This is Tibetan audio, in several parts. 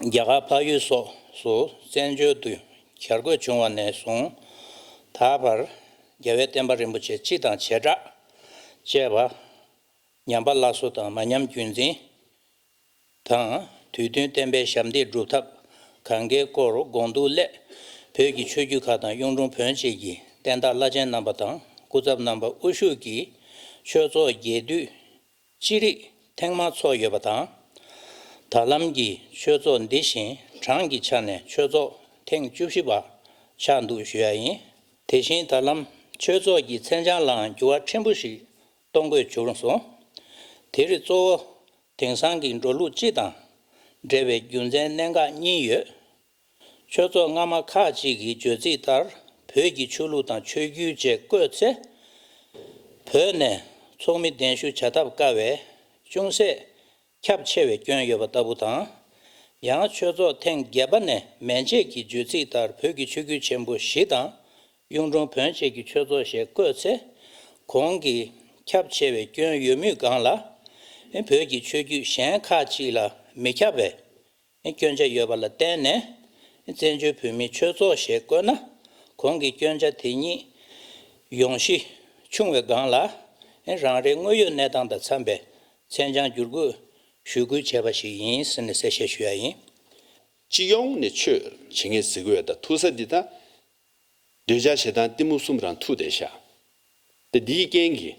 རྒྱ་གར་འཕགས་ཡུལ་སོགས་སུ་བཙན་བྱོལ་དུ་གྱར་དགོས་བྱུང་བ་ནས་བཟུང་ད་བར་རྒྱལ་བའི་བསྟན་པ་རིན་པོ་ཆེ་སྤྱི་དང་བྱེ་བྲག་ཅེས་པ། ཉམས་པ་སླར་གསོ་དང་མ་ཉམས་རྒྱུན་འཛིན། དང་དུས་བསྟུན་བསྟན་པའི་ཞབས་འདེགས་སྒྲུབ་ཐབས་གང་དགའི་སྐོར་དགོངས་འདུག་སླད་བོད་ཀྱི་ཆོས་བརྒྱུད་ཁག་དང་གཡུང་དྲུང་བོན་བཅས་ཀྱི་བསྟན་བདག་བླ་ཆེན་རྣམ་པ་དང་སྐུ་ཚབ་རྣམ་པ་དབུ་བཞུགས་ཀྱིས་ཆོས་ཚོགས་རྒྱས་བསྡུས་ཅི་རིགས་ཐེངས་མང་ཚོགས་ཡོད་པ་དང། ད་ལམ་གྱི་ཆོས་ཚོགས་འདི་བཞིན་གྲངས་ཀྱི་ཆ་ནས་ཆོས་ཚོགས་ཐེངས་བཅུ་བཞི་པ་ཆགས་འདུག་ཞུ་ཡ་ཡིན། དེ་བཞིན་ད་ལམ་ཆོས་ཚོགས་ཀྱི་མཚན་བྱང་ལའང་འགྱུར་བ་ཕྲན་བུ་ཞིག་གཏོང་དགོས་བྱུང་སོང། དེ་རིགས་གཙོ་བོ་དེང་སང་གི་འགྲོ་ལུགས་སྤྱི་དང་འབྲེལ་བའི་རྒྱུ་མཚན་གནད་འགག་གཉིས་ཡོད་ཆོས་ཚོགས་སྔ་མ་ཁག་ཅིག་གི་བརྗོད་ཚིག་ལྟར་བོད་ཀྱི་ཆོས་ལུགས་དང་ཆོས་བརྒྱུད་བཅས་བཀོད་ཚེ། བོད་ནས་ཚོགས་མི་གདན་ཞུ་བྱ་ཐབས་དཀའ་བས་ཅུང་ཟད་ཁྱབ་ཆེ་བའི་སྐྱོན་ཡོད་པ་ལྟ་བུ་དང། ཡང་ཆོས་ཚོགས་ཐེངས་བརྒྱད་པ་ནས་མན་བཅས་ཀྱི་བརྗོད་ཚིག་ལྟར་བོད་ཀྱི་ཆོས་བརྒྱུད་ཆེན་པོ་བཞི་དང་གཡུང་དྲུང་བོན་བཅས་ཀྱི་ཆོས་ཚོགས་ཞེས་བཀོད་ཚེ། གོང་གི་ཁྱབ་ཆེ་བའི་སྐྱོན་ཡོད་མུས་སྒང་ལ། བོད་ཀྱི་ཆོས་བརྒྱུད་གཞན་ཁག་ཅིག་ལ་མི་ཁྱབ་པས་སྐྱོན་ཆ་ཡོད་པ་ལ་བརྟེན་ནས་བཙན་བྱོལ་བོད་མིའི་ཆོས་ཚོགས་ཞེས་བཀོད་ན་གོང་གི་སྐྱོན་ཆ་དེ་ཉིད་ཡོང་གཞི་ཆུང་བའི་སྒང་ལ་རང་རེའི་དངོས་ཡོད་གནས་སྟངས་དང་འཚམས་པའི་མཚན་བྱང་བསྒྱུར་དགོས་ཞུ་སྐུལ་བྱས་པ་ཞིག་ཡིན་ཟེར་ནས་གསལ་བཤད་ཞུ་ཡ་ཡིན། སྤྱི་ཡོངས་ནས་ཆོས་བྱེད་མཁན་གཟིགས་འོས་དང་ཐུག་ས་འདི་དག་འདོད་ཆགས་ཞེ་སྡང་གཏི་མུག་གསུམ་རང་ཐུགས་དེ་བཞག་སྟེ་འདིའི་རྐྱེན་གྱིས་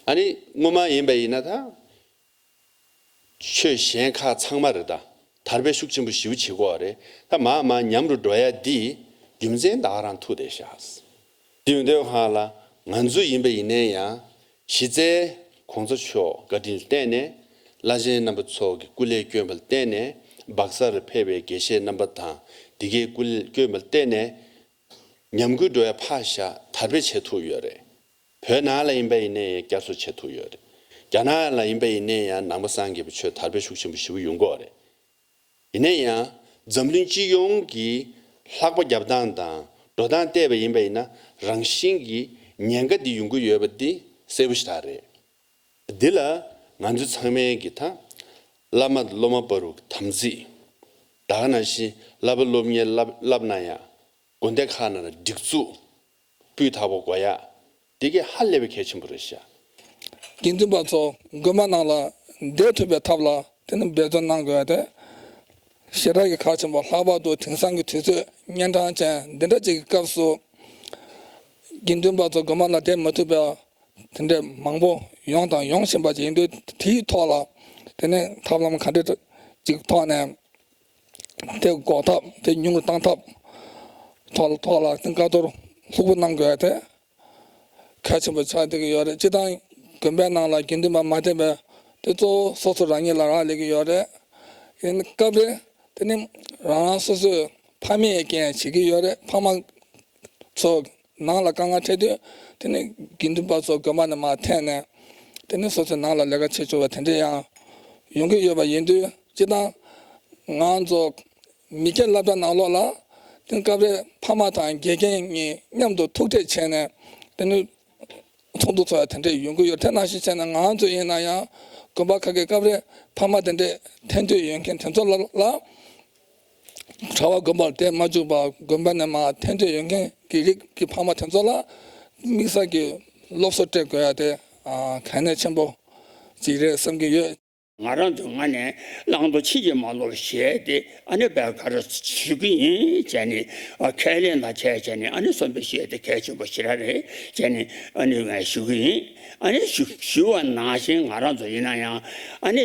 ཨ་ནི་དངོས་མ་ཡིན་པ་ཡིན་ན་ཐང་ཆོས་གཞན་ཁག་ཚང་མ་རེད་ད་དར་པའི་ཤུགས་ཆེན་པོ་ཞིའུ་བྱེད་གོ་རེད་ད་མ་མ་ཉམས་རུ་འགྲོ་ཡ་འདི་རྒྱུ་མཚན་བདག་རང་ཐུགས་རེ་ཤགས་འདི་འོས་འདོད་ཧང་ལ་ང་ཚོ་ཡིན་པ་ཡིན་ནའི་ཡང་གཞི་རྩའི ྋགོང་ས་མཆོག་བཀའ་དྲིན་བསྟན་ནས་བླ་ཆེན་རྣམ་པ་ཚོགས་ཀྱི་སྐུ་ལས་སྐྱོན་པ་བསྟན་ནས་སྦག་སར་ཕེབས་པའི་དགེ་བཤེས་རྣམ་པ་དང་འདི་གའི་སྐུ་ལས་སྐྱོན་པ་བསྟན་ནས་ཉམས་རྒུད་འགྲོ་བའི་ཕ་ཞག་དར་སྤེལ་བྱེད་ཐུབ་ཡོད་རེད། བོད་ནང་ལ་ཡིན་པ་ཡིན་ནས་ཡང་བསྐྱར་གསོ་བྱེད་ཐུབ་ཡོད་རེད། རྒྱ་ནག་ལ་ཡིན་པ་ཡིན་ནས་ཡང་ནང་པ་སངས་རྒྱས་པའི་ཆོས་དར་སྤེལ་ཤུགས་ཆེན་པོ་ཞི་བོ་ཡོང་གོ་རེད། ཡིན་ནས་ཡང་འཛམ་གླིང་སྤྱི་ཡོངས་ཀྱི་ལྷག་པ་རྒྱབ་སྟངས་དང་འགྲོ་སྟངས་བལྟས་པ་ཡིན་པ་ཡིན་ན་རང་བཞིན་གྱིས་ཉེན་ཁ་འདི་ཡོང་གི་ཡོད་པ་འདི་གསལ་བོ་ཞིག་ད་རེད། འདི་ལ་ང་ཚོ་ཚང་མས་གི་ད། བླ་མ་སློབ་མ་པ་རུ་དམ་ཚིག། དག་ན་ཤིང་བླ་པ་སློབ་གཉེར་བསླབ་ན་ཡག། དགོན་སྡེ་ཁག་ནང་ལ་སྒྲིག་འཛུགས། སྤུས་དག་པོ་དགོས་ཡག། དེ་གི་ཧ་ལས་པའི་གལ་ཆེན་པོ་རེད་ཤག། དགེ་འདུན་པ་ཚོ་དགོན་པ་ནང་ལ་བསྡད་ཐུབ་པའི་ཐབས་ལ་དེ་རྣམས་འབད་བརྩོན་གནང་དགོས་ཏེ། ཞེ་དྲག་གི་ཁག་ཆེན་པོ་ལྷག་པར་དུ་དེང་སང་གི་དུས་ཚོད་གཉན་འཕྲང་ཅན་འདི་འདྲ་ཅིག་གི་སྐབས་སུ། དགེ་འདུན་པ་ཚོ་དགོན་པ་ལ་བསྡད་མ་ཐུབ་པའི་དེ་འདྲའི་མང་པོ་ཡོང་དང་ཡོང་བཞིན་པ་ཞིག་ཡིན་དུས་དེའི་ཐོག་ལ་དེ་ནས་ཐབས་ལམ་ག་འདྲི་ཅིག་ཐོག་ནས་དེ་འགོག་ཐབས་དེ་ཉུང་རུ་གཏང་ཐབས་ཐོག་ཐོག་ལ་བཀའ་བསྡུར་ལྷུག་པོ་གནང་དགོས་དེ་གལ་ཆེན་པོ་ཆགས་བསྡད་ཀྱི་ཡོད་རེད་སྤྱི་བཏང་དགོན་པའི་ནང་ལ་དགེ་འདུན་པ་མ་བསྟེན་པའི་དེ་གཙོ་བོ་སོ་སོ་རང་ཉིད་ལ་རག་ལས་ཀྱི་ཡོད་རེད་དེ་ནི་སྐབས་རེ་དེ་ནི་རང་རང་སོ་སོས་ཕ་མེས་ཀྱི་རྐྱེན་བྱེད་ཀྱི་ཡོད་རེད་ཕ་མ་ཚོས་ནང་ལ་དཀའ་ངལ་འཕྲད་དུས་དེ་ནི་དགེ་འདུན་པ་ཚོ་དགོན་པ་ནས་མ་ཐེངས་ནས་དེ་ནི་སོ་སོའི་ནང་ལ་ལས་ཀ་བྱེད་འཇུག་པ་དེ་འདྲས་ཡང་ཡོང་གི་ཡོད་པ་ཡིན་དུས་སྤྱི་བཏང་ང་ཚོ་མི་སྐྱ་བསླབ་གྲྭ་ནང་ལོག་ལ་དེ་ནི་སྐབས་རེ་ཕ་མ་དང་དགེ་རྒན་གཉིས་མཉམ་དུ་ཐུག་འཕྲད་བྱས་ནས་དེ་ནི་ཚོགས་འདུ་འཚོགས་ཡ་དེ་འདྲས་ཡོང་གི་ཡོད་དེ་ནང་བཞིན་བྱས་ན་ང་ཚོ་ཡིན་ན་ཡང་དགོན་པ་ཁག་གི་སྐབས་རེ་ཕ་མ་དེ་འདྲས་ཐེངས་དུས་ཡོང་མཁན་དེ་ཚོ་ལ། གྲྭ་བ་དགོན་པར་བསྡད་མ་བཅུག་པར་དགོན་པ་ནས་མ་ཐེན་འབྲས་ཡོད་མཁན་གྱི་རིགས་ཀྱི་ཕ་མ་དེ་ཚོ་ལ་དམིགས་བསལ་གྱི་སློབ་གསོ་སྤྲད་དགོས་ཡ་དེ་གལ་གནད་ཆེན་པོ་ཅིག་རེད་བསམ་གྱི་ཡོད། ང་རང་དུ་ང་ནས་བླང་དོར་ཕྱིས་ཀྱི་མ་ནོར་བཞེས་ཏེ་ཨ་ནེ་བས་ག་རེ་བྱེད་ཀྱི་ཡིན་བྱས་ནས་ཁས་ལེན་དང་བྱས་བྱས་ནས་ཨ་ནེ་གསོན་པོ་བྱས་ཏེ་གལ་ཆེན་པོ་ཞི་ར་རེད་བྱས་ནས་ཨ་ནེ་བས་ཞུ་གི་ཡིན་ཨ་ནེ་ཞུ་བ་ནང་བཞིན་ང་རང་དུ་ཡིན་ན་ཡང་ཨ་ནེ།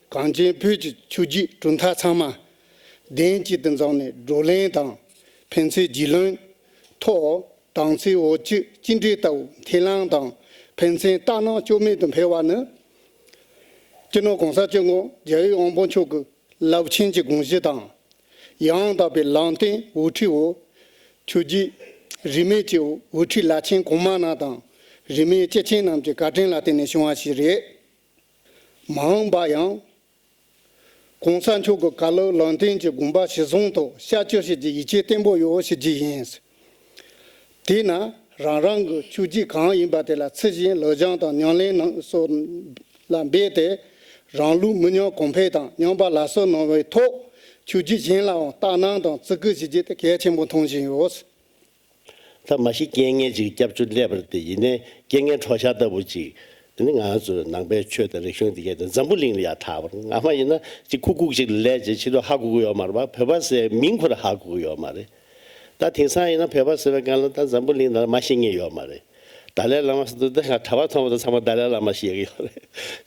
གངས་ཅན་བོད་ཀྱི་ཆུ་རྒྱུད་གྲུབ་མཐའ་ཚང་མ་གདན་གཅིག་ཏུ་འཛོམས་ནས་བགྲོ་གླེང་དང་ཕན་ཚུན་རྒྱུས་ལོན་ཐོག་དྭངས་གཙང་འོད་ཀྱི་སྐྱིད་འབྲས་ལྟ་བུ་འཐེན་ལངས་དང་ཕན་ཚུན་ལྟ་སྣང་བཅོས་མེད་དུ་འཕེལ་བ་ནི། སྤྱི་ནོར་གོང་ས་སྤྱི་དངོས་རྒྱལ་ཡོད་དབང་པོ་མཆོག་གི་རླབས་ཆེན་གྱི་དགོངས་གཞི་དང་ཡང་དག་པའི་ལམ་སྟོན་འོད་འཕྲོའི་འོ། ཆུ་རྒྱུད་རིས་མེད་ཀྱི་འོད་འཕྲོའི་བླ་ཆེན་གོང་མ་རྣམས་དང་རིས་མེད་སྐྱེས་ཆེན་རྣམས་ཀྱི་བཀའ་དྲིན་ལ་བརྟེན་ནས་བྱུང་བ་ཞིག་རེད། མ་འོངས་པ་ཡང། གོང་ས་མཆོག་གི་བཀའ་སློབ་ལམ་སྟོན་གྱི་དགོངས་པ་གཞི་བཟུང་ཐོག་བཤད་བཅོས་བྱེད་རྒྱུའི་ཡིད་ཆེས་བརྟན་པོ་ཡོད་ཞུ་རྒྱུ་ཡིན། དེས་ན་རང་རང་གི་ཆོས་བརྒྱུད་གང་ཡིན་པ་དེ་ལ་ཚུལ་བཞིན་ལོ་སྦྱང་དང་ཉམས་ལེན་གནང་སོགས་ལ་འབད་དེ། རང་ལུས་མི་ཉམས་གོང་འཕེལ་དང་ཉམས་པ་ལ་སོགས་གནང་བའི་ཐོག་ཆོས་བརྒྱུད་གཞན་ལའང་ལྟ་སྣང་དང་བརྩི་བཀུར་བྱེད་རྒྱུ་དེ་གལ་ཆེན་པོ་མཐོང་བཞིན་ཡོད། ཐ་མ་ཤི་རྐྱེན་ངན་ཅིག་སྐྱབས་བཅོལ་སླེབས་པར་དེ་ཡིན་ནའི་རྐྱེན་ངན་གྲོགས་ཤ་ལྟ་བུ་ཅིག་དེ་ནི་ང་ཚོའི་ནང་པའི་ཆོས་དང་རིག་གཞུང་འདི་གའི་འཛམ་བུ་གླིང་ལ་ཡང་དག་པར་ང་མ་ཡིན་ན་ཅིག་ཁུ་ཁུག་ཅིག་ལ་ལས་ཀྱི་ཕྱི་རོལ་ཧ་གོ་གི་ཡོད་མ་རེད་པ་བོད་པ་ཟེར་བའི་མིང་འཁུར་ཧ་གོ་གི་ཡོད་མ་རེད་ད་དེང་སང་ཡིན་ན་བོད་པ་ཟེར་བའི་སྒང་ལ་ད་འཛམ་བུ་གླིང་ནང་ལ་མ་ཤི་ངེས་ཡོད་མ་རེད་དཱ་ལའི་བླ་མ་ཟེར་དུས་ད་གྲྭ་བ་ཚང་མ་དང་ཚང་མ་དཱ་ལའི་བླ་མ་ཞེས་ཀྱི་ཡོད་རེད་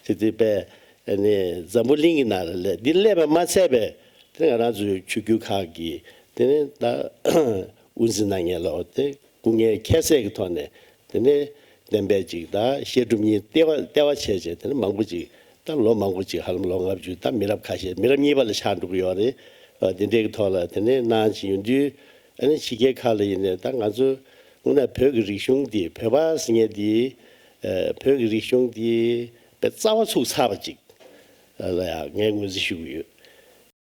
དེ་དེ་པས་ནི་འཛམ་བུ་གླིང་གི་ནང་ལ་ལས་འདི་སླེབས་པ་མ་ཚད་པས་དེ་ནི་ང་རང་ཚོའི་ཆོས་བརྒྱུད་ཁག་གིས་དེ་ནི་ད་དབུ་འཛིན་ནང་ངེས་ལོག་སྟེ་སྐུ་ངལ་ཁྱད་བསད་ཀྱི་ཐོག་ནས་དེ་ནས་བདེན་པའི་འཇིག་ལྟ་བཤད་སྒྲུབ་གཉིས་ལྟེ་བ་ལྟེ་བ་བྱས་བྱས་དེ་ནས་མང་པོ་ཅིག་ད་ལོ་མང་པོ་ཅིག་ཧ་ལམ་ལོ་ལྔ་བཅུ་ད་མི་རབས་ཁ་ཤས་མི་རབས་གཉིས་པ་ལ་ཆགས་འགྲོ་གི་ཡོད་རེད་བ་དེ་འདྲའི་གི་ཐོག་ལ་དེ་ནས་གནང་བྱིན་ཡོད་དུས་ཨ་ནི་ཕྱི་རྒྱལ་ཁག་ལ་ཡིན་ནས་ད་ང་ཚོ་སྔོན་ན་བོད་ཀྱི་རིག་གཞུང་འདི་བོད་པ་ཟེར་ངེས་འདི་བོད་ཀྱི་རིག་གཞུང་འདི་བའི་རྩ་བ་ཚུགས་ཚར་བ་ཅིག་ལ་ཡང་ངས་ངོས་འཛིན་ཞུ་གི་ཡོད།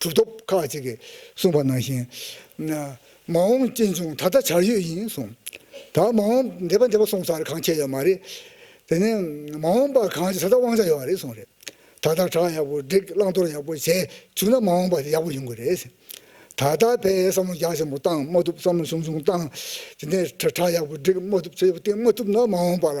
གྲུབ་ཐོབ་ཁག་ཅིག་གིས་གསུངས་པ་ནང་བཞིན། མ་འོངས་གཅེན་གཅུང་ད་ལྟ་བྱར་ཡོད་ཡིན་གསུངས། ད་མ་འོངས་འདས་པ་འདས་པ་གསུངས་ཚར་གང་ཁྱེད་ཡོད་མ་རེད། དེ་ནས་མ་འོངས་པ་གང་ཅིག་ད་ལྟ་དབང་ཆ་ཡོད་བ་རེད་གསུངས་རེད། ད་ལྟ་གྲྭ་ཡག་པོ་བསྒྲིགས་བླང་དོར་ཡག་པོ་བྱས་བཅུག་ན་མ་འོངས་པ་དེ་ཡག་པོ་ཡོང་གི་རེད། ད་ལྟ་བས་བསམ་བློ་རྒྱ་ཆེན་པོ་བཏང་མ་ཐུབ་བསམ་བློ་ཆུང་ཆུང་བཏང། དེ་ནས་གྲྭ་ཡག་པོ་བསྒྲིགས་མ་ཐུབ་ཆེ་ཆེ་པོ་བཏིང་མ་ཐུབ་ན་མ་འོངས་པ་ལ་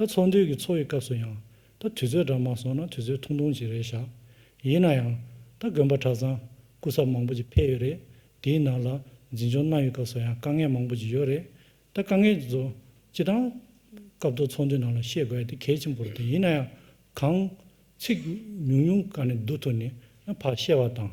ད་ཚོགས་འདུས་ཀྱི་ཚོགས་ཡི་སྐབས་སུ་ཡང། ད་དུས་ཚོད་འདྲ་མ་སོང་ན་དུས་ཚོད་ཐུང་ཐུང་ཞིག་རེད་བཞག། ཡིན་ན་ཡང། ད་དགོན་པ་གྲྭ་ཚང། སྐུ་ཚབ་མང་པོ་ཅིག་ཕེབས་ཡོད་རེད། དེའི་ནང་ལ། འཛིན་སྐྱོང་གནང་ཡོད་སྐབས་སུ་ཡང་དཀའ་ངལ་མང་པོ་ཅིག་ཡོད་རེད། ད་དཀའ་ངལ་ཅིག་ཚོ། སྤྱི་དང། སྐབས་ཐོག་ཚོགས་འདུའི་ནང་ལ་བཤད་དགོས་ཡ་དེ་གལ་ཆེན་པོ་རེད་ཡིན་ན་ཡང། གང། ཚིག། ཉུང་ཉུང་ག་ནས་བསྡུ་ཐུབ་ནས། ཕར་བཤད་བ་དང།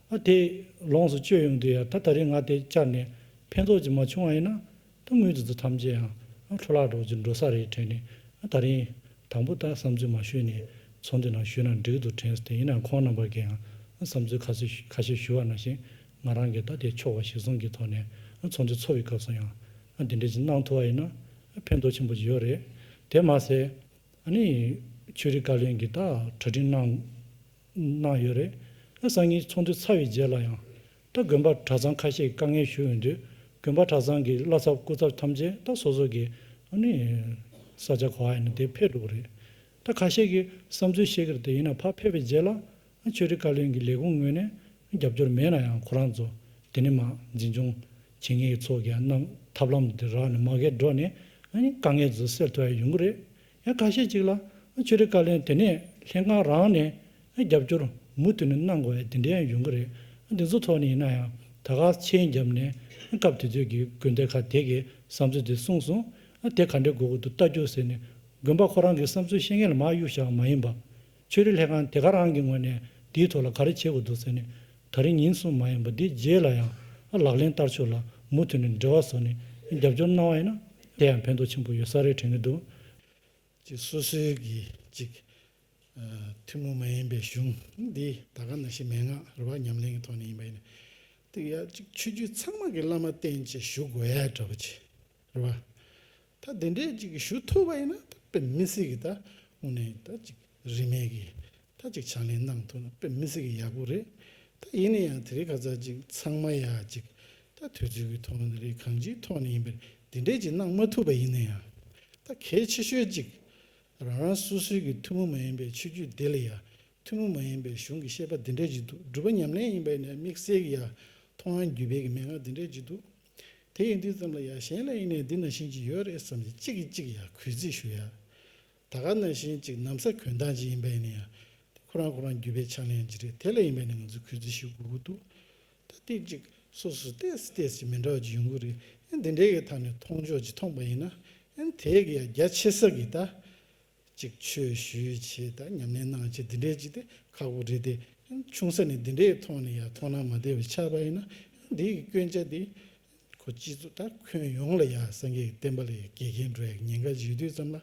ཨ་དེ། ལོངས་སུ་སྤྱོད་ཡོང་དུས་ཡང་ད་ད་རིང་ང་དེ་བཅར་ནས་ཕན་ཐོགས་ཅིག་མ་བྱུང་བ་ཡིན་ན། ད་དངུལ་དེ་ཚོ་ཐམས་ཅད་ཡང་འཕྲོ་བརླག་སྒྲོག་ཅིག་འགྲོ་ས་རེད་དྲན་ནས་ད་རིང། དང་པོ་ད་བསམ་ཚུལ་མ་ཞུས་ནས་ཚོགས་འདུའི་ནང་ཞུས་ན་འགྲིག་འདུག་དྲན་སྟེ་ཡིན་ནའང་ཁོང་རྣམ་པར་གྱིའང་བསམ་ཚུལ་ཁ་སོས་ཁ་ཤས་ཞུ་བར་ན་བཞིན་ང་རང་གིས་ད་དེ་ཆོག་བ་ཞིག་གསུང་གི་ཐོག་ནས་ཚོགས་འདུ་འཚོགས་ཡོད་སྐབས་སུ་ཡང་དེ་འདྲས་ཅིག་གནང་ཐུབ་བ་ཡིན་ན་ཕན་ཐོགས་ཆེན་པོ་ཅིག་ཡོད་རེད། དེར་མ་ཟད། ཨ་ནི། ཆོས་རིག་བཀའ་བློན་གྱིས་ད་གྲ་སྒྲིག་གནང། གནང་ཡོད་རེད། ཨ་སང་གཉིས་ཚོགས་འདུ་ཚར་བའི་རྗེས་ལ་ཡང། ད་དགོན་པ་གྲྭ་ཚང་ཁ་ཤས་དཀའ་ངལ་ཞུ་ཡོང་དུས་དགོན་པ་གྲྭ་ཚང་གི་བླ་ཚབ་སྐུ་ཚབ་ཐམས་ཅད་ད་སོ་སོ་གི། ས་ཆ་གོ་ཨེ་ན་དེ་ཕེབས་འགྲོ་གི་རེད། ད་ཁ་ཤས་ཀྱི་བསམ་ཚུལ་བཤད་ཀྱི་རེད་དེ་ཡིན་ན་ཕ་ཕེབས་པའི་རྗེས་ལ། ཆོས་རིག་བཀའ་བློན་གྱི་ལས་ཁུངས་ངོས་ནས་རྒྱབ་སྐྱོར་མེད་ན་ཡང་ཁོ་རང་ཚོ་དེ་ནི་མ་འཛིན་སྐྱོང་བྱེད་ངེས་ཀྱི་ཚོགས་ཀྱི་ཐབས་ལམ་དེ་རག་ནས་མ་འགལ་འགྲོ་ནས་དཀའ་ངལ་ཚོ་སེལ་ཐུབ་ཨེ་ཡོང་གི་རེད། ཡང་ཁ་ཤས་ཅིག་ལ་ཆོས་རིག་བཀའ་བློན་དེ་ནས་ལྷན་ཁང་རང་ནས་རྒྱབ་སྐྱོར་མུ་མཐུད་ནས་གནང་དགོས་བའི་དེ་འདྲའི་ཡོང་གི་རེད་དེ་ཚོ་ཐོག་ནས་ཡིན་ན་ཡང་ད་ག་ཆེན་རྒྱབ་ནས་སྐབས་དེ་དུས་ཀྱི་དགོན་སྡེ་ཁག་དེ་གི་བསམ་ཚུལ་དེ་གསུངས་སོང་དེ་ག་འདྲའི་དགོས་དགོས་འདུག་བལྟ་རྒྱུ་ཟེར་ནས་དགོན་པ་ཁོ་རང་གི་བསམ་ཚུལ་བཤད་མཁན་ལ་མ་གཡུག་བཞག་མ་ཡིན་པ། ཆོས་རིག་ལྷན་ཁང་དེ་ག་རང་གི་ངོས་ནས་དེའི་ཐོག་ལ་ག་རེ་བྱེད་དགོས་འདུག་ཟེར་ནས་ད་རིང་ཉིན་གསུམ་མ་ཡིན་པ་འདི་རྗེས་ལ་ཡང་ལག་ལེན་བསྟར་ཕྱོགས་ལ་མུ་མཐུད་ནས་འབྲེལ་བ་བཟོ་ནས་རྒྱབ་སྐྱོར་གནང་བ་ཡིན་ན་དེ་ཡང་ཕན་ཐོགས་ཆེན་པོ་ཡོད་ས་རེད་དྲན་གྱི་འདུག། ཅིག་སོ་སོའི་གི་ཅིག། ཐུན་མོང་མ་ཡིན་པའི་གཞུང་འདི་ད་ག་ན་ཤི་མན་ངག་རུ་བ་ཉམས་ལེན་གྱི་ཐོག་ནས་ཡིན་པ་ཡིན། ཏིག་ཡ་ཅིག་ཆོས་བརྒྱུད་ཚང་མ་གི་བླ་མ་བསྟེན་ཅིག་བཞུགས་འོས་གྲ་པ་ཅིག་རུ་བ། ད་དེ་འདྲས་ཅིག་ཞུ་ཐུབ་པ་ཡིན་ན་ད་དཔེ་མི་སྲིད་གི་ད་དངོས་གནས་ད་ཅིག་རིན་མེད་གི་ད་ཅིག་ཕྱག་ལེན་གནང་ཐུབ་ན་དཔེ་མི་སྲིད་གི་ཡག་པོ་རེད་ད་ཡིན་ན་ཡང་དེ་རིགས་ཁ་ཚར་ཅིག་ཚང་མ་ཡག་ཅིག་ད་དུས་ཚོད་ཀྱི་ཐོག་ནས་རེད་གང་ཅིའི་ཐོག་ནས་ཡིན་པར་དེ་འདྲས་ཅིག་གནང་མ་ཐུབ་པ་ཡིན་ན་ཡང་ད་གལ་ཆེ་ཤོས་ཅིག་རང་རང་སོ་སོའི་གི་ཐུན་མོང་མ་ཡིན་པའི་ཆོས་བརྒྱུད་དེ་ལ་ཡ་ཐུན་མོང་མ་ཡིན་པའི་གཞུང་གི་བཤད་པ་དེ་འདྲས་ཅིག་འདུག་སྒྲུབ་པ་ཉམས་ལེན་ཡིན་པ་ཡིན་ན་དམིགས་བསལ་གི་ཡ་མཐོང་ཡང་རྒྱུད་སྦས་ཀྱི་མན་ངག་དེ་འདྲས་ཅིག་འདུག་དེ་ཡིན་དུས་ཙམ་ལ་ཡ་གཞན་ལ་ཡིན་ནས་འདི་ན་བཞིན་ཅིག་ཡོད་རེད་བསམ་སྟེ་གཅིག་གིས་གཅིག་ཡར་གུས་བརྩི་ཞུ་ཡ། ད་ག་ན་བཞིན་གཅིག་གནམ་ས་གུས་མདངས་ཅིག་ཡིན་པ་ཡིན་ནི་ཡ། དེ་ཁོ་རང་ཁོ་རང་བརྒྱུད་པའི་ཕྱག་ལེན་ཅིག་རེད་དེ་ལ་ཡིན་པས་ནི་ང་ཚོས་གུས་བརྩི་ཞུ་དགོས་ཀྱི་འདུག་ད་སྟེ་གཅིག་སོ་སོས་ལྟས་སུ་ལྟས་ཅིག་མི་འདྲ་བ་ཅིག་ཡོང་གི་རེད་ཨེ་འདི་འདྲའི་གི་ཐག་ནས་མཐོང་ཕྱོགས་ཅིག་མཐོང་པ་ཡིན་ན་ཨེ་དེའི་གི་ཡ་རྒྱ་ཆེ་ས་གི་ད་ཅིག་ཆོས་ཞུས་བྱས་དང་ཉམས་ལེན་གནང་བྱས་འདི་འདྲའི་ཅིག་དེ་ཁག་པོ་རེད་དེ། ཆུང་ས་ནས་འདི་འདྲའི་ཐོག་ནས་ཡང་མཐོང་སྣང་མ་བདེ་བའི་ཆགས་པ་ཡིན་ན་འདི་ཡི་སྐྱོན་ཆ་འདི། ཁོ་སྤྱི་གཙུག་དང་ཁོན་ཡོངས་ལ་ཡང་སངས་རྒྱས་ཀྱི་བསྟན་པ་ལ་ཡང་དགེ་རྒན་འགྲོ་ཡག་ཉེན་ཁ་བཞུས་དུས་ཙམ་ལ་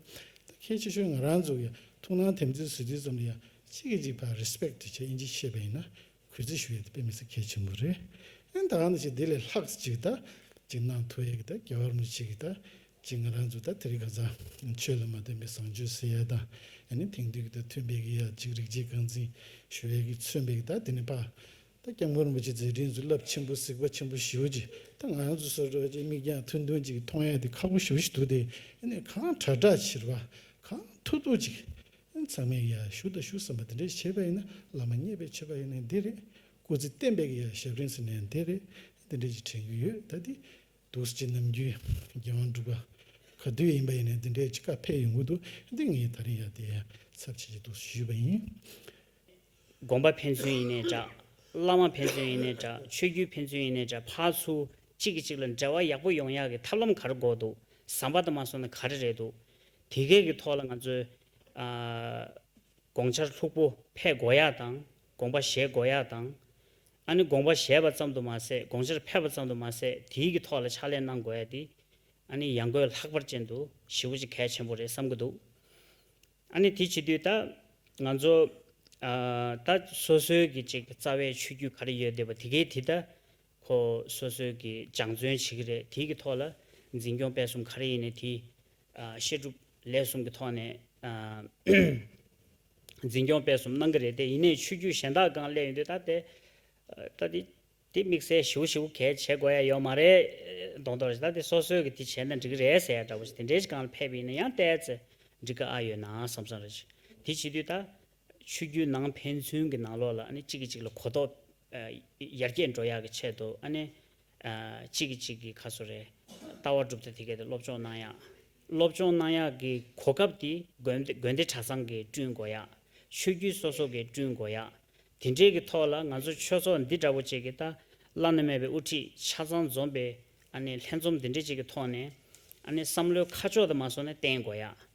ད་ཁྱེད་ཆེ་ཤོས་ང་རང་ཚོ་གི་ཡང་ཐུགས་སྣང་དེམ་ཚིག་བཟོས་དུས་ཙམ་ལ་ཡང་གཅིག་གིས་གཅིག་ཕ་རེ་སྤེག་ཏུ་བྱས་ཨིན་ཅིག་ཤེས་པ་ཡིན་ན་གུས་བརྩི་ཞུ་ཡི་འདུག་དཔེ་མི་སྲིད་གལ་ཆེན་པོ་རེད་ཨེ་འདའ་ང་ནི་ཅིག་འདི་ལས་ལྷག་ཅིག་ད་ཅིག་གནང་ཐུབ་ཡས་གི་ད་རྒྱལ་བར་མི་བྱེད་གི་ད་ཅིག་ང་རང་ཚོ་ད་དེ་རིགས་གང་ཟག་ཆོས་ལ་མ་བརྟེན་པའི་བཟང་སྤྱོད་ཟེར་ཡས་དང་ཡ་ནི་དེང་དུས་གི་ད་མཐུན་པའི་གི་ཡ་ཅིག་རིགས་རྒྱས་རྐང་འཛིན་ཞུ་ཡས་གི་མཚོན་པའི་གི་ད་དེ་ནི་པ་ད་སྐྱབས་མགོན་རིན་པོ་ཆེ་མཛད་འཕྲིན་ཟུར་བསླབ་ཆེན་པོ་གཟིགས་པ་ཆེན་པོ་ཞུ་ཅིག་ད་ང་རང་ཚོ་སོ་སོ་ཅིག་མིག་རྒྱང་ཐུང་ཐུང་ཅིག་གིས་མཐོང་ཡས་དེ་ཁག་པོ་ཞུ་བཞིན་འདུག་དེ་ནི་གང་དྲག་དྲག་ཕྱིར་བ་གང་ཐུག་ཐུག་ཅིག་ཚང་མས་ཡར་ཞུ་དང་ཞུ་བསམ་པ་དེ་འདྲའི་བྱེད་པ་ཡིན་ན་བླ་མ་མཉེས་པའི་བྱེད་པ་ཡིན་ནི་འདི་རེད། སྐུ་ཚེ་བརྟན་པའི་ཡར་ཞབས་རིང་ཟེར་ནའི་འདི་རེད། འདི་འདྲའི་ཅིག་དྲན་གྱི་ཡོད་ད་འདི། དུག་སེལ་གྱི་ནམ་རྒྱུན་རྒྱལ་དབང་འབྲུག་པ། ག་དུས་ཡིན་པ་ཡིན་ནི་འདི་འདྲའི་ཅིག་ཁ་འཕེལ་ཡོང་གི་འདུག་འདི་ངས་ད་རིང་ཡར་དེའི་ཚབ་བྱེད་ཀྱི་འདུག་ཞེས་ཞུས་པ་ཡིན། དགོན་པ་ཕན་ཚུན་ཡིན་ནའི་འདྲ། བླ་མ་ཕན་ཚུན་ཡིན་ནའི་འདྲ་ཆོས་བརྒྱུད་ཕན་ཚུན་ཡིན་ནའི་འདྲ་ཕར་ཚུར་གཅིག་གིས་གཅིག་ལ་འབྲེལ་བ་ཡག་པོ་ཡོང་ཡག་གི་ཐབས་ལམ་ག་རེ་འགོག་འདུག་བཟང་པ་དང་མ་སོང་ན་ག་རེ་རེད་འདུག་དེ་གའི་གི་ཐོག་ལ་ང་ཚོས། དགོངས་འཆར་ལྷུག་པོ་ཕས་གོ་ཡག་དང་དགོངས་པ་བཞེས་གོ་ཡག་དང། ཨ་ནི་དགོངས་པ་བཞེས་པ་ཙམ་དུ་མ་ཟད་དགོངས་འཆར་ཕེབས་པ་ཙམ་དུ་མ་ཟད་དེའི་གི་ཐོག་ལ་ཕྱག་ལས་གནང་གོ་ཡག་དེ། ཨ་ནི་ཡང་སྒོས་ལྷག་པར་ཅན་དུ་ཞི་བོ་ཅིག་གལ་ཆེན་པོ་རེད་བསམ་གི་འདུག། ཨ་ནི་དེ་བྱེད་དུས་ད། ང་ཚོ། ད་སོ་སོའི་གི་ཅིག་རྩ་བའི་ཆོས་རྒྱུད་ག་རེ་ཡོད་དེ་བ་དེ་གའི་དེ་ད། ཁོ་སོ་སོའི་གི་སྦྱང་བརྩོན་བྱེད་ཀྱི་རེད་དེའི་གི་ཐོག་ལ་འཛིན་སྐྱོང་སྤེལ་གསུམ་ག་རེ་ཡིན་ནས་དེ་བཤད་སྒྲུབ་ལས་གསུམ་གི་ཐོག་ནས་འཛིན་སྐྱོང་སྤེལ་གསུམ་གནང་གི་རེད་དེ་ཡིན་ནས་ཆོས་རྒྱུད་གཞན་དག་གང་སླེབས་ཡོད་དུས་ད་དེ་ད་དེ་དེ་དམིགས་བསལ་ཞིའུ་ཞིའུ་གས་བྱེད་དགོས་ཡ་ཡོད་མ་རེད་མདོག་མདོག་རེད་ད་དེ་སོ་སོའི་གི་དེ་བྱས་ན་འགྲིག་གི་རེད་ཟེར་ཡ་འདྲ་བོ་ཞིག་དེ་འདྲའི་གང་ལ་ཕེབས་ཡིན་ན་ཡང་བལྟས་ཚེ་འགྲིག་གི་ཨ་ཡོད་ནའང་བསམ་བསམ་རེད་བྱས་དེ་བྱེད་དུས་ད་ཆོས་བརྒྱུད་ནང་ཕན་ཚུན་གྱི་ནང་ལོགས་ལ་གཅིག་གིས་གཅིག་ལ་གོ་རྟོགས་ཡར་རྒྱས་འགྲོ་ཡག་གི་ཆེད་དུ་གཅིག་གིས་གཅིག་གི་ཁ་སོ་རེ་ལྟ་བ་གྲུབ་ཚེ་དེ་གའི་དེར་སློབ་སྦྱོང་གནང་ཡག། སློབ་སྦྱོང་གནང་ཡག་གི་གོ་སྐབས་དེ་དགོན་སྡེ་གྲྭ་ཚང་གིས་བསྐྲུན་དགོ་ཡག། ཆོས་བརྒྱུད་སོ་སོ་གིས་བསྐྲུན་དགོ་ཡག། དེ་འདྲའི་གི་ཐོག་ལ་ང་ཚོ་ཆོས་ཚོགས་འདི་འདྲ་བོ་ཅིག་གི་ཏཱ་ལ་ནུ་མེད་པའི་དབུ་ཁྲིད་ཆ་ཚང་འཛོམས་པའི་ལྷན་འཛོམས་འདི་འདྲ་ཅིག་གི་ཐོག་ནས་བསམ་བློའི་ཁ་ཕྱོགས་དུ་མ་སོགས་ནས་བསྟན་དགོ་ཡག།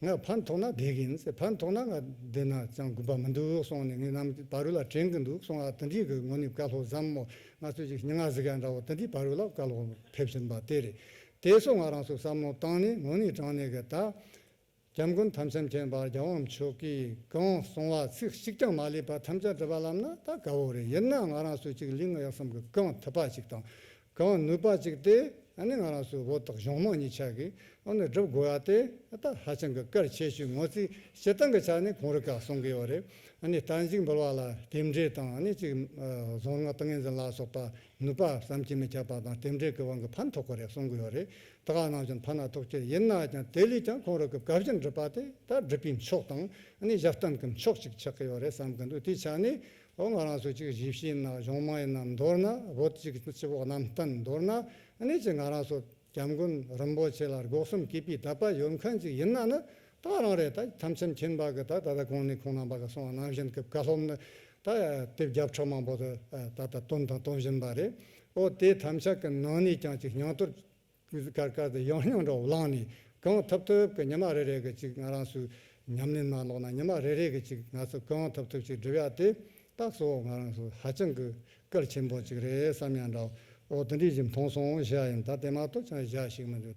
ང་ཕར་མཐོང་ན་བགེགས་ཡིན་ཟེར་ཕར་མཐོང་ན་ང་འདི་ན་ཅང་དགོན་པ་མི་འདུག་གསུངས་ནས་ངེད་རྣམས་བ་རུ་ལ་དྲན་གྱི་འདུག་གསུངས་ཨ་ཏི་འབྲི་གི་ངོ་ནི་བཀའ་སློབ་བཟང་མོ་ང་ཚོས་ཅིག་སྙན་ངག་གཟིགས་ཡ་འདྲ་བོ་ཏི་འདི་བ་རུ་ལ་བཀའ་སློབ་ཕེབས་བཞིན་པ་དེ་རེད་དེ་སོགས་ང་རང་ཚོས་བསམ་བློ་བཏང་ནས་ངོ་ནི་དྲངས་ནས་གི་ད། གྱམ་མགོན་དམ་སེམས་ཅན་པར་རྒྱལ་དབང་མཆོག་གིས་གང་གསུངས་བ་ཚིག་གཅིག་ཀྱང་མ་ལས་པར་ཐམས་ཅད་བྲི་བར་ལམ་ན་ད་དགའ་བོ་རེད་ཡིན་ན་ང་རང་ཚོས་ཅིག་གླིང་གཡག་གསུམ་གྱི་རྐང་ཐིགས་པ་ཅིག་དང་གང་ནུས་པ་ཅིག་སྟེ་ང་རང་ཚོའི་འོག་ཏུ་གཞུང་དམངས་གཉིས་ཆགས་ཀྱིས་བསྒྲུབ་དགོས་པ་དེ་ད་ཧ་ཅང་གི་སྐར་ཆད་ཞིག་ངོ་རྩིས་བྱེད་སྟངས་ཀྱི་ཆ་ནས་གོང་རི་ཁག་གསུམ་གྱི་བར་དང་ཅིག་འབུལ་བ་ལ་དེབ་འབྲེལ་དང་གཅིག་རྫོང་ལྔ་ཏང་ཡོན་འཛིན་ལག་སོགས་པར་ནུས་པ་བསམ་གྱིས་མི་ཁྱབ་པ་དང་དེབ་འབྲེལ་གྱི་བར་གྱི་ཕན་ཐོགས་ཀྱི་རེ་གསུང་གི་ཡོད་རེད་དེ་ག་ནང་བཞིན་ཕན་ན་ཐོགས་ཁྱེད་ཡིན་ན་ཀྱང་དེ་ལས་ཀྱང་གོང་རི་གི་བཀའ་བཞིན་སྒྲུབ་པ་དེ་ད་སྒྲུབ་པའི་མཆོག་དང་ཞབས་སྟངས་ཀྱི་མཆོག་ཅིག་ཆགས་ཀྱི་ཡོད་རེད་བསམ་གྱི་འདུག་དེའི་ཆ་ནས་ལོ་ང་རང་སོ་གཅིག་བཞི་བཞི་ན་གཞུང་དམངས་ཡིན་ན་མདོར་ན་བོད་གཅིག་གི་སྤྱི་བོགས་གནམ་བསྟན་མདོར་ན་གནས་ཀྱི་ང་རང་སོ་སྐྱབས་མགོན་རིན་པོ་ཆེ་ལ་སྒོ་གསུམ་གུས་པའི་དད་པ་ཡོད་མཁན་ཅིག་ཡིན་ན་ནི་ད་རང་རེ་ད་ཁྱམས་ཁྱམས་ཁྱིམ་བག་གི་ད་ད་ད་གོང་ནས་གོང་ནང་བག་གི་སོང་བ་ནང་བཞིན་གི་བཀའ་སློབ་ནི་ད་དེབ་རྒྱབ་ཁྲོད་མང་པོ་དུ་ད་ད་བཏོན་དང་གཏོང་བཞིན་པ་རེད་ཨོ་དེ་ཐམས་ཅད་ཀྱི་ནང་ནས་ཀྱང་ཅིག་སྙིང་དོར་ཀུ་ཟུ་ཀར་ཀར་དུ་ཡང་ཡང་འདྲ་བོ་བླངས་ནས་གང་ཐུབ་ཐུབ་ཀྱི་ཉི་མ་རེ་རེ་གི་ཅིག་ང་རང་ཚོའི་ཉམས་ལེན་ནང་ལོག་ན་ཉི་མ་རེ་རེ་གི་ཅིག་ང་ཚོ་གང་ཐུབ་ཐུབ་ཅིག་སྒྲུབ་ཡག་དེ་རྟགས་གཙོ་བོ་ང་རང་ཚོ་ཧ་ཅང་གི་སྐལ་ཆེན་པོ་ཅིག་རེད་བསམ་ཡང་འདྲ་བོ་དེ་འདྲའི་ཞིག་མཐོང་སོང་བཞག་ཡིན་ད་དེ་མ་གཏོགས་ཅང་བཞག་ཞིག་མི་འདུག།